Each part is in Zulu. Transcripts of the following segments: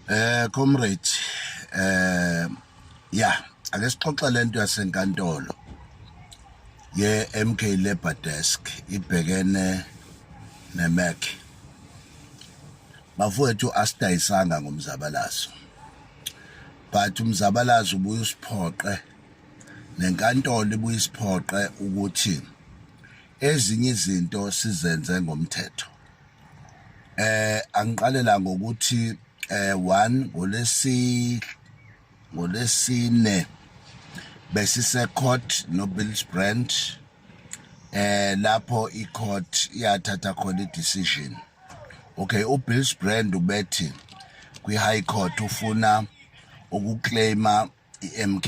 Eh comrade eh ya ake sixoxe lento yasenkantolo ye MK Labor Desk ibhekene neMac bafowethu asidayisanga ngomzabalazo but umzabalazo ubuye usiphoqe nenkantolo ibuye isiphoqe ukuthi ezinye izinto sizenze ngomthetho eh angiqalela ngokuthi eh one ngolesi ngolesine besise court no Bills Brand eh lapho i court iyathatha khona i decision okay u Bills Brand ubethi kwi high court ufuna ukuclaima iMK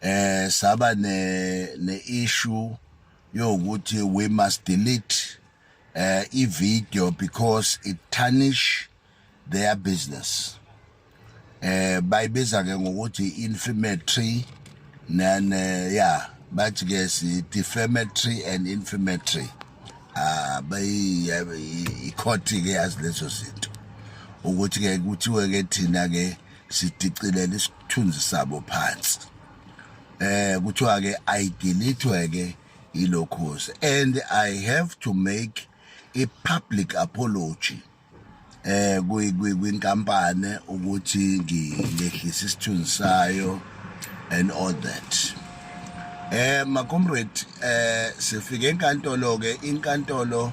eh saba ne ne issue yokuthi we must delete uh, i video because it tarnish their business eh bayibiza ke ngokuthi inflammatory nan eh, yeah bathi ke si defamatory and inflammatory ah bayi ikhothi ke yazi lezo zinto ukuthi ke kuthiwe ke thina ke sidicilela isithunzi sabo phansi eh kuthiwa ke i delete ke ilokhozi and i have to make a public apology eh kwinkampani ukuthi ngilehlisa isithunzi sayo and all that eh ma comrade eh sifike enkantolo ke inkantolo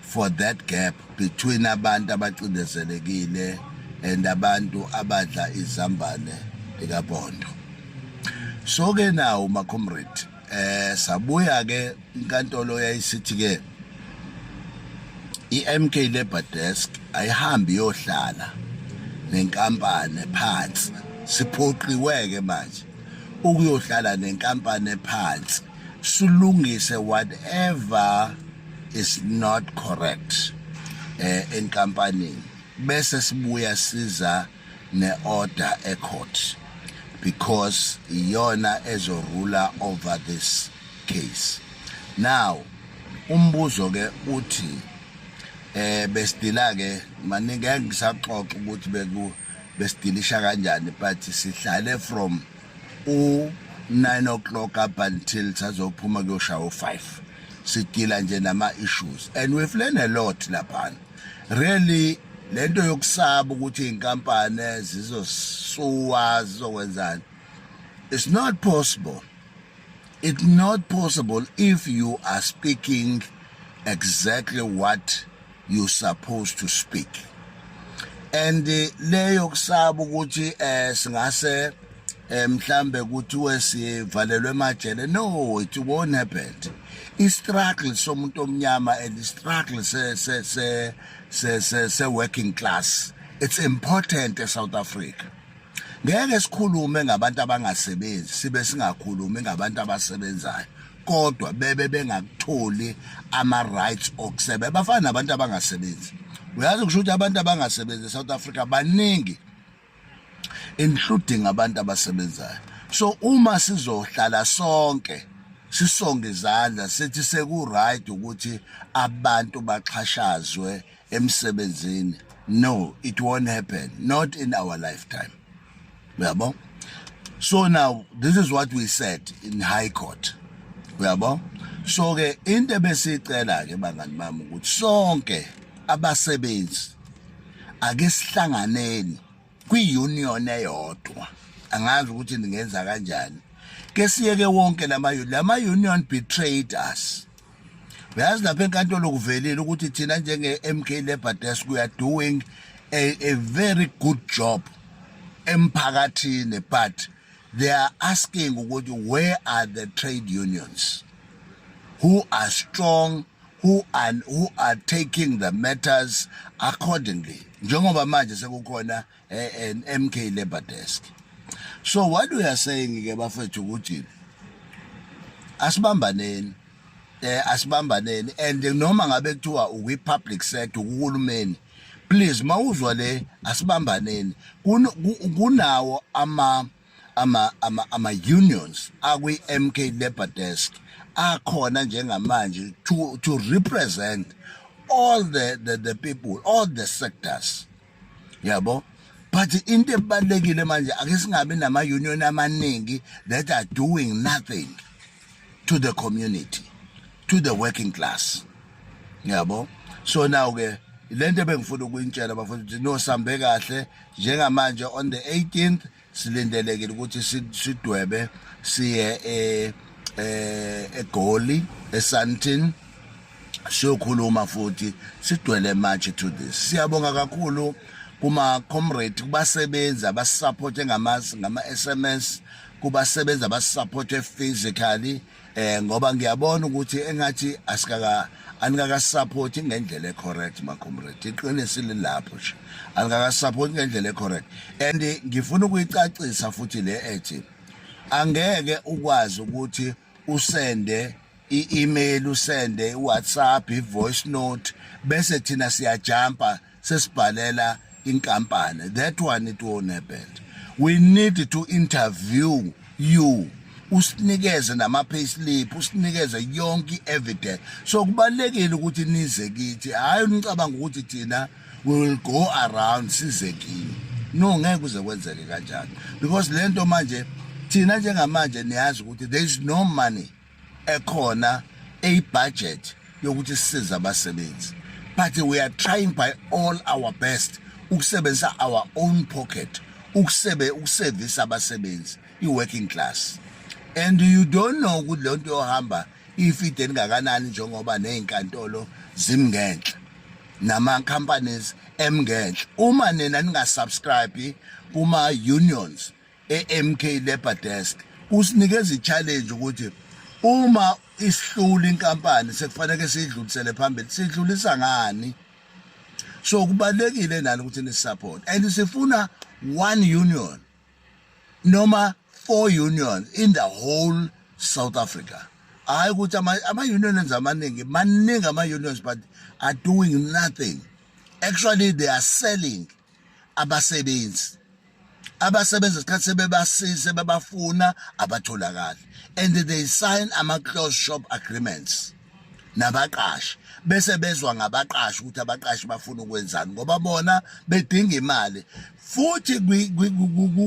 for that gap between abantu abacindezelekile and abantu abadla izambane likabondo so ke nawo macomrade eh sabuya ke inkantolo yayisithi ke iMK Labor Desk ayihambi yohlala nenkampani phansi siphoqiweke manje ukuyohlala nenkampani phansi sulungise whatever is not correct eh enkampanini bese sibuya siza ne-order ecourt because iyona ezorula over this case now umbuzo ke uthi eh besidila ke maningi ngisaxoxa ukuthi beku besidilisha kanjani but sihlale from u 9 o'clock up until sazophuma kuyoshaya u 5 sidila nje nama issues and we've learned a lot lapha really lento yokusaba ukuthi inkampani zizosuwa zizokwenzani it's not possible it's not possible if you are speaking exactly what you supposed to speak and leyo kusaba ukuthi eh singase eh, mhlambe kuthiwe sivalelwe emajele no it won't happen istruggle somuntu omnyama and istruggle se se se se se, se working class it's important eSouth Africa ngeke sikhulume ngabantu abangasebenzi sibe singakhulumi ngabantu abasebenzayo kodwa bebe bengakutholi ama rights okusebenza bafana nabantu abangasebenzi uyazi kusho ukuthi abantu abangasebenzi eSouth Africa baningi including abantu abasebenzayo so uma sizohlala sonke sisonge izandla sithi seku right ukuthi abantu baxhashazwe emsebenzini no it won't happen not in our lifetime uyabo so now this is what we said in high court uyabo so ke into ebesicela ke bangani bami ukuthi sonke abasebenzi ake sihlanganeni kwi-union eyodwa angazi ukuthi ningenza kanjani ke siyeke wonke lama-union betrayed us uyazi lapha enkantolo kuvelile ukuthi thina njenge-mk labour desk we are doing a, a very good job emphakathini but they are asking ukuthi where are the trade unions who are strong who are, who are taking the matters accordingly njengoba manje sekukhona eh, eh, MK labor desk so what we are saying ke bafethu ukuthi asibambaneni eh asibambaneni and noma ngabe kuthiwa ukwi public sector uhulumeni please mawuzwa le asibambaneni kunawo ama ama ama ama unions akwi MK Labor Desk akhona njengamanje to to represent all the the, the people all the sectors yabo but into ebalekile manje ake singabe nama union amaningi that are doing nothing to the community to the working class ngiyabo so now ke lento ebengifuna ukuyintshela bafuna ukuthi no sambe kahle njengamanje on the 18th silindelekile ukuthi sidwebe siye eh egoli esantin siyokhuluma futhi sidwele manje to this siyabonga kakhulu kuma comrade kubasebenzi abasisupport ngama ngama SMS kubasebenzi abasupportwe physically eh ngoba ngiyabona ukuthi engathi asikaka anikakasupport ngendlela ecorrect ma comrade iqiniso lilapho nje anikakasupport ngendlela ecorrect and ngifuna ukuyicacisa futhi le ethi angeke ukwazi ukuthi usende i-email usende i-whatsapp i-voice note bese thina siyajampa sesibhalela inkampani that one it won't happen we need to interview you usinikeze nama-payslip usinikeze yonke i-evidence so kubalulekile ukuthi nize kithi hhayi unicabanga ukuthi thina we will go around size kini no ngeke kuze kwenzeke kanjalo because lento manje thina njengamanje niyazi ukuthi there is no money ekhona eyibudget yokuthi sisize abasebenzi but we are trying by all our best ukusebenzisa our own pocket ukusebe ukusevisa abasebenzi i-working class and you don't know ukuthi lento yohamba ifide elingakanani njengoba nezinkantolo zimngenhla nama companies emngenhla uma nina ningasubscribe kuma unions eMK Labor Desk usinikeza ichallenge ukuthi uma isihlula inkampani sekufanele sidlulisele phambili sidlulisa ngani so kubalekile nani ukuthi ni support and sifuna one union noma four union in the whole south africa hayi ukuthi ama-unions amaningi maningi ama-unions but are doing nothing actually they are selling abasebenzi abasebenza isikhathi sebebasiza sebebafuna abatholakali and they sign ama-close shop agreements nabaqashi bese bezwa ngabaqashi ukuthi abaqashi bafuna ukwenzani ngoba bona bedinga imali futhi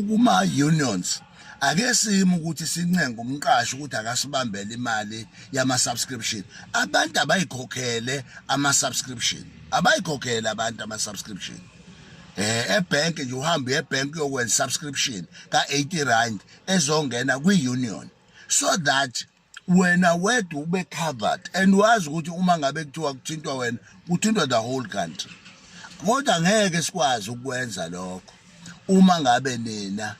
kuma unions ake sime ukuthi sincenga umqashi ukuthi akasibambele imali yama subscription abantu abayikhokhele ama subscription abayikhokhele abantu ama subscription eh ebank nje uhamba ebank uyokwenza subscription ka 80 rand ezongena kwi union so that wena wedwa ube covered and wazi ukuthi uma ngabe kuthiwa kuthintwa wena kuthintwa the whole country kodwa ngeke sikwazi ukwenza lokho uma ngabe nina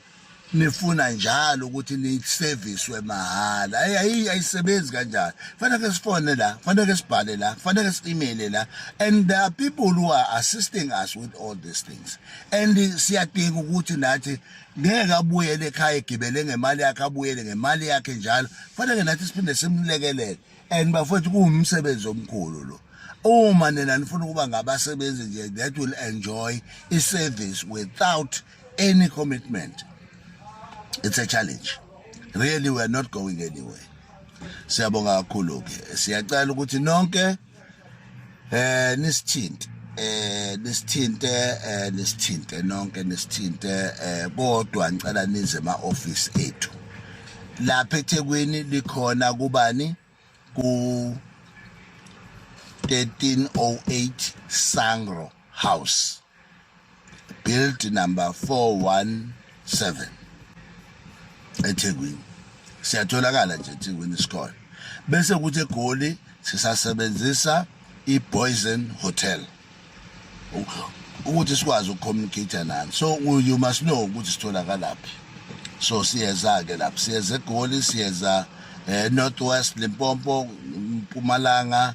nifuna njalo ukuthi niyiserviswe mahhala ayi ayisebenzi kanjani fanele sifone la fanele sibhale la fanele si-email la and there are people who are assisting us with all these things and siyadinga ukuthi nathi ngeke abuyele ekhaya egibele ngemali yakhe abuyele ngemali yakhe njalo kufanele nathi siphinde simlekelele and bafowethu kuwumsebenzi omkhulu lo uma nina nifuna ukuba ngabasebenzi nje that will enjoy i-service without any commitment it's a challenge really we are not going anywhere siyabonga kakhulu-ke siyacela ukuthi nonke eh nisithinte eh nisithinte eh nisithinte nonke nisithinte eh kodwa ngicela nize ema office ethu lapha eThekwini likhona kubani ku 1308 Sangro House build number 417 eThekwini siyatholakala nje eThekwini isikole bese kuthi eGoli sisasebenzisa iBoysen Hotel ukuthi sikwazi ukucommunicate nani so you must know ukuthi sitholakalaphi so siyeza ke lapho siyeza eGoli siyeza eh, Northwest Limpopo Mpumalanga